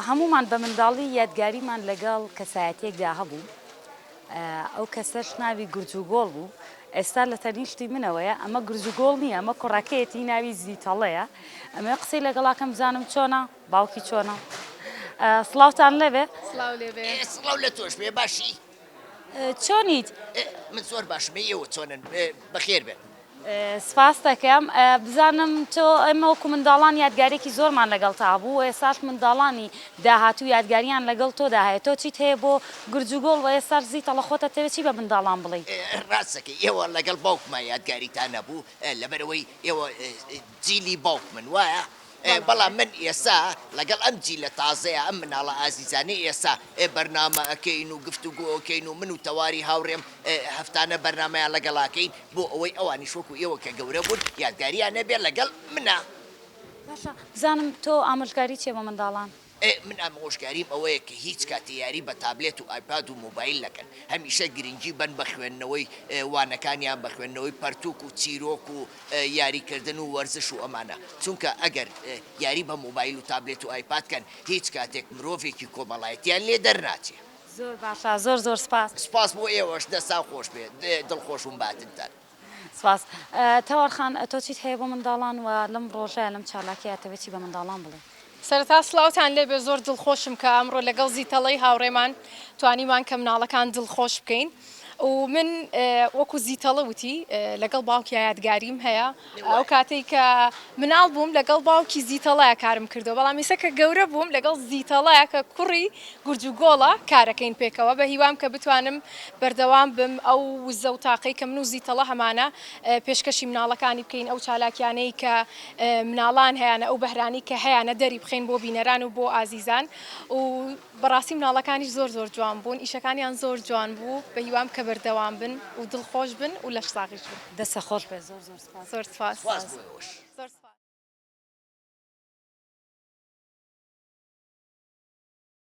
هەموومان بە منداڵی یادگاریمان لەگەڵ کەسایەتیەکدا هەبوو ئەو کەسەش ناوی گورج و گۆڵ بوو ئێستا لە تەنیشتی منەوەیە ئەمە گورج و گۆڵ نییە ئەمە کوڕەکەیەتی ناوی زیتەڵەیە ئەمە قسەی لەگەڵاکەم بزانم چۆنە باوکی چۆنە سڵاوتان لەبێ سڵاو لە تۆش بێ باشی. چۆنیت؟ من زۆر باشم، ئێوە چۆنن؟ بەخێر بێن. سپاست دەکەم. بزانم تۆ، ئێمە وەکو منداڵان یادگاریەکی زۆرمان لەگەڵتا هەبوو و ئێستاش منداڵانی داهاتوو یادگاریان لەگەڵ تۆدا هەیە. تۆ چیت هەیە بۆ گورج و گۆڵ و ئێستاش زیتەڵە خۆت ئەتەوێ چی بە منداڵان بڵێی؟ ڕاست دەکەی، ئێوە لەگەڵ باوکما یادگاریتان هەبوو، لەبەرئەوەی ئێوە جیلی باوکمن، وایە؟ ئێ بەڵام من ئێسا لەگەڵ ئەم جیلە تازەیە ئەم مناڵە ئازیزانەی ئێسا ئێ بەرنامە ئەکەین و گفتوگۆ ئەکەین و من و تەواری هاوڕێم ئێ هەفتانە بەرنامەیان لەگەڵ ئەکەین بۆ ئەوەی ئەوانیش وەکو ئێوە کە گەورە بوون یادگاریان ئەبێ لەگەڵ منا. باشە بزانم تۆ ئامۆژگاری چیە بۆ منداڵان؟ ئێ من ئامۆژگاریم ئەوەیە کە هیچ کاتێ یاری بە تابلێت و ئایپاد و مۆبایل نەکەن هەمیشە گرنگی بەن بە خوێندنەوەی وانەکانیان بە خوێندنەوەی پەرتووک و چیرۆک و یاری کردن و وەرزش و ئەمانە چونکە ئەگەر یاری بە مۆبایل و تابلێت و ئایپاد کەن هیچ کاتێک مرۆڤێکی کۆمەڵایەتیان لێ دەرناچێ. زۆر باشە زۆر زۆر سپاس. سپاس بۆ ئێوەش دەستان خۆش بێت دڵخۆشوم باتنتان. سپاس. تاوەر خان تۆ چیت هەیە بۆ منداڵان و لەم ڕۆژە لەم چالاکیە ئەتەوێت چی بە منداڵان بڵێی؟ سەرەتا سڵاوتان لێبێ زۆر دڵخۆشم کە ئەمڕۆ لەگەڵ زیتەڵەی هاوڕێمان توانیمان کە مناڵەکان دڵخۆش بکەین و من وەکو زیتەڵە وتی لەگەڵ باوکی یادگاریم هەیە ئەو کاتەی کە مناڵ بووم لەگەڵ باوکی زیتەڵەیە کارم کردو بەڵام ئیسە کە گەورە بووم لەگەڵ زیتەڵەیە کە کوڕی گورج و گۆڵە کارەکەین پێکەوە بە هیوام کە بتوانم بەردەوام بم ئەو وزە و تاقەی کە من و زیتەڵە هەمانە پێشکەشی مناڵەکانی بکەین ئەو چالاکیانەی کە مناڵان هەیانە ئەو بەهرانەی کە هەیانە دەری بخەین بۆ بینەران و بۆ ئازیزان و بەڕاستی مناڵەکانیش زۆر زۆر جوان بوون ئیشەکانیان زۆر جوان بوو بە هیوام کە بەردەوام بن و دڵ خۆش بن و لەش ساغیش بن. دەستە خۆش بێت زۆر زۆر سوپاس. زۆر سوپاس. سوپاس بۆ ئێوەش. زۆر سوپاس.